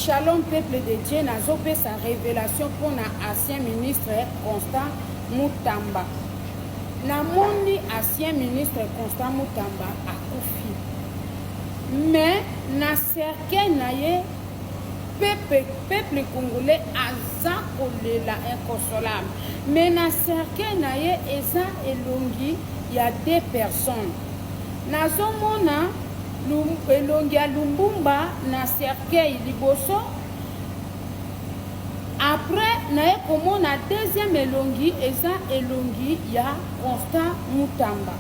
Shalom peuple de Dieu nazopesa révélation mpo na ancien ministre Constant Mutamba namoni ancien ministre Constant Mutamba akufi mais na cercueil na ye peuple, peuple congolais aza kolela inconsolable mais na cercueil na ye eza elongi ya deux personnes nazomona elongi ya lumbumba na cercueil liboso après naye komona deuxième elongi eza elongi ya constant mutamba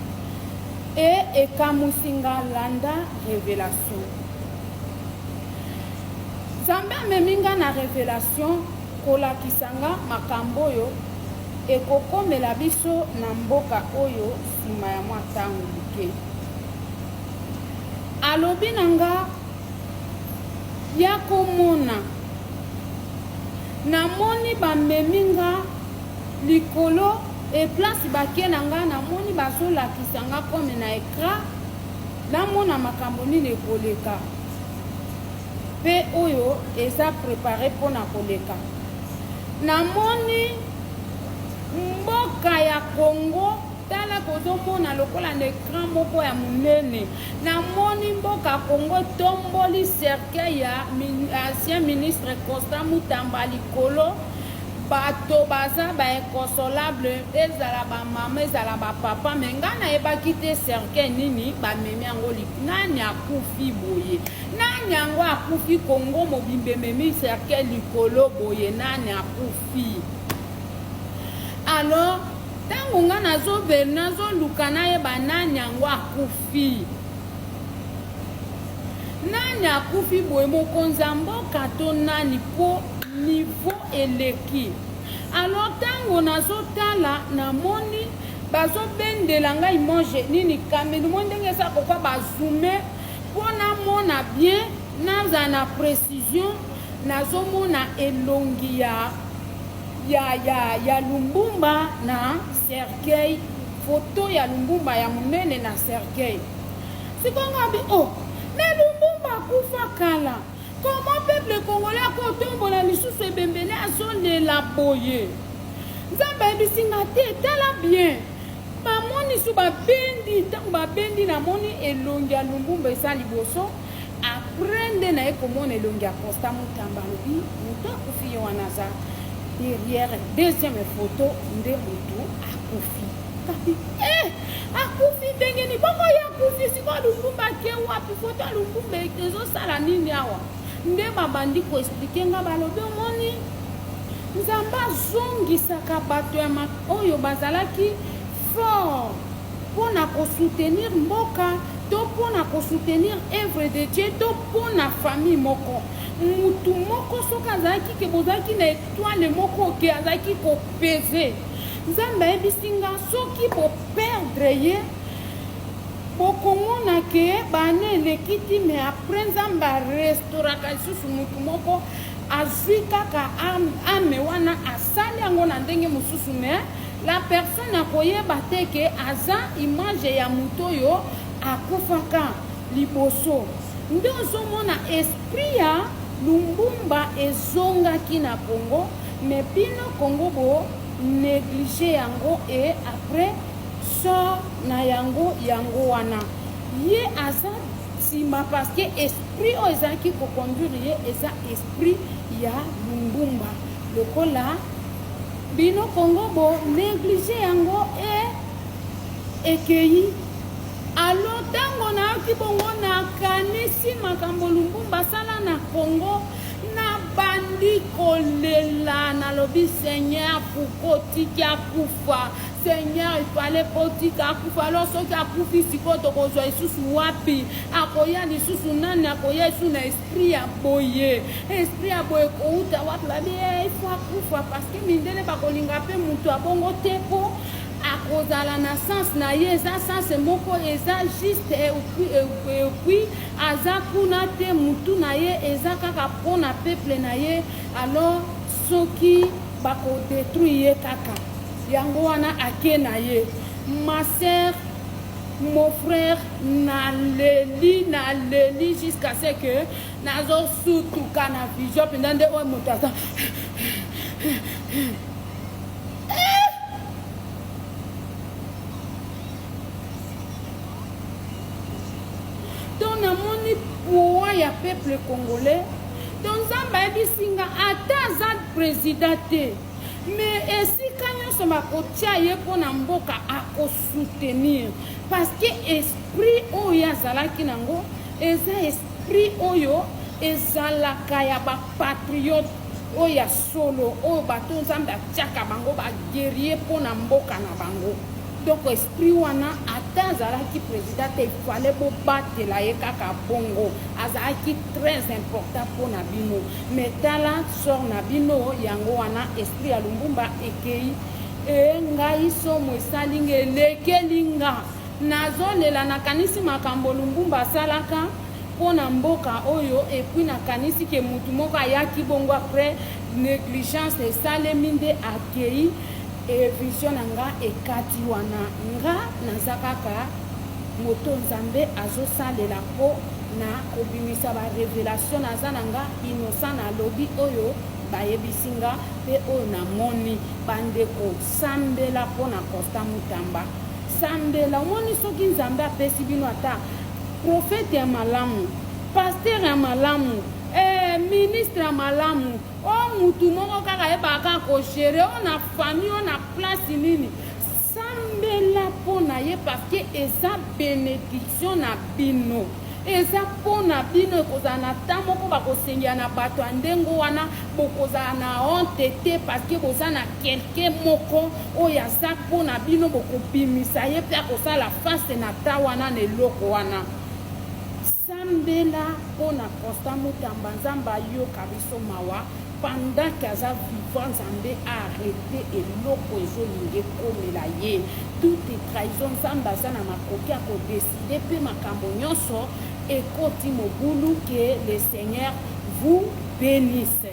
e ekamwisi nga landa revelation nzambe amemi nga na revelation kolakisa nga makambo oyo ekokomela biso na mboka oyo nsima ya mwa ntango moke Alobi na nga, yako mona. Na moni ba memi nga likolo et place ba ke na nga na moni ba zo lakisa nga comme na ecran na mona makambo nini ekoleka pe oyo eza prepare pona koleka na moni mboka ya congo Tala bozomona lokola na ekran moko ya monene namoni mboka congo etomboli cercueil ya ancien ministre constant mutamba likolo bato baza bainconsolable ezala bamama ezala bapapa me ngai nayebaki te cercueil nini bamemi yango nani akufi boye nani yango akufi kongo mobimba ememi cercueil likolo boye nani akufi alors Tango nga nazo ver nazo luka nayeba nani yango akufi nani akufi boye mokonzi ya mboka to nani po niveau eleki alors ntango nazotala namoni bazobendela ngai mange nini kamelu mo ndenge eza koka bazume mpo namona bien nazala na précision nazomona elongi ya ya ya ya lumbumba na cercueil photo ya lumbumba ya munene na cercueil sikoyo nga bi oh mais lumbumba akufa kala comment peuple congolais akotombola lisusu ebembele azolela boye nzambe ayebisi nga te tala bien bamonisu babendi ntango babendi namoni elongi ya lumbumba eza liboso Après nde naye komona elongi ya Constant Mutamba alobi mutu akufi ye wana aza derrière deuxième photo nde mutu akufi kapi eh akufi ndenge ni bongo ye akufi sikoyo Lumumba ake wapi photo ya Lumumba ezosala nini awa nde babandi koexplike nga balobi omoni nzambe azongisaka bato ya oyo bazalaki fort pona ko soutenir mboka to pona ko soutenir oeuvre de Dieu to pona famille moko mutu moko soki azalaki ke bozalaki na etoile moko ke azalaki ko peze nzambe ayebisi nga soki bo perdre ye bokomona ke bana eleki ti me apres nzambe arestoraka lisusu motu moko azwi kaka ame wana asali yango na ndenge mosusu me eh? La personne akoyeba te que aza image ya moto oyo akufaka liboso. Nde ozomona esprit ya Lumbumba ezongaki na Congo mais bino Congo bo negliger yango et après sort na yango yango wana ye aza nsima parce que esprit oyo ezalaki koconduire ye eza esprit ya Lumbumba lokola Bino Congo bo negliger yango et ekeyi alo ntango nayoki bongo nakanisi makambo lumbumba asala na congo nabandi kolela nalobi seigneur pourko tiki akufa seigneur ifale potika akufa alo soki akufi sikoyo tokozwa lisusu wapi akoya lisusu nani akoya esu na esprit ya boye esprit ya boye kouta wapi babi eh, ifo akufa parceke mindele bakolinga mpe motu abongo te mpo akozala na sens na ye eza sens moko eza juste epuis aza kuna te motu na ye eza kaka mpo na peuple na ye alors soki bakodetruire ye kaka yango wana ake na ye ma sœur mon frère naleli naleli jusqu'à ce que nazosutuka na vision mpenza nde oyo moto aza poids ya peuple congolais to nzambe ayebisi nga ata aza président te me esika nyonso bakotya ye mpo na mboka akosoutenir parceke esprit oyo azalaki nango eza esprit oyo ezalaka ya bapatriote oyo ya solo oyo bato nzambe atyaka bango bagerie mpo na mboka na bango donc esprit wana ata azalaki président te ifale bobatela ye kaka bongo azalaki très important mpo na bino Mais tala sort na bino yango wana esprit ya lumbumba ekeyi e ngai somo esali nga elekeli nga nazolela nakanisi makambo lumbumba asalaka mpo na mboka oyo epuis nakanisi ke motu moko ayaki bongo après négligence esalemi nde akei evision na nga ekati wana nga naza kaka moto nzambe azosalela po na kobimisa ba revelation naza na nga innocent na lobi oyo bayebisi nga pe oyo na moni bandeko sambela po na constant mutamba sambela omoni soki nzambe apesi bino ata profete ya malamu pasteur ya malamu eh, ministre ya malamu o oh, mutu moko kaka yebaka kaka kogere o oh, na famille o oh, na place nini Sambela pona ye parce que eza benediction na bino. Eza pona bino ekozala na temps moko bakosengela na bato ya ndenge wana bokozala na honte te parce que boza na quelqu'un moko oyo aza pona bino bokobimisa ye pe akosala face na temps wana na eloko wana. Sambela pona constant mutamba nzambe ayoka biso mawa pendant que aza vivant nzambe a arrete eloko ezolinga ekomela ye tout est trahison nzambe aza na makoki ya kodeside mpe makambo nyonso ekoti mobulu que le seigneur vous benisse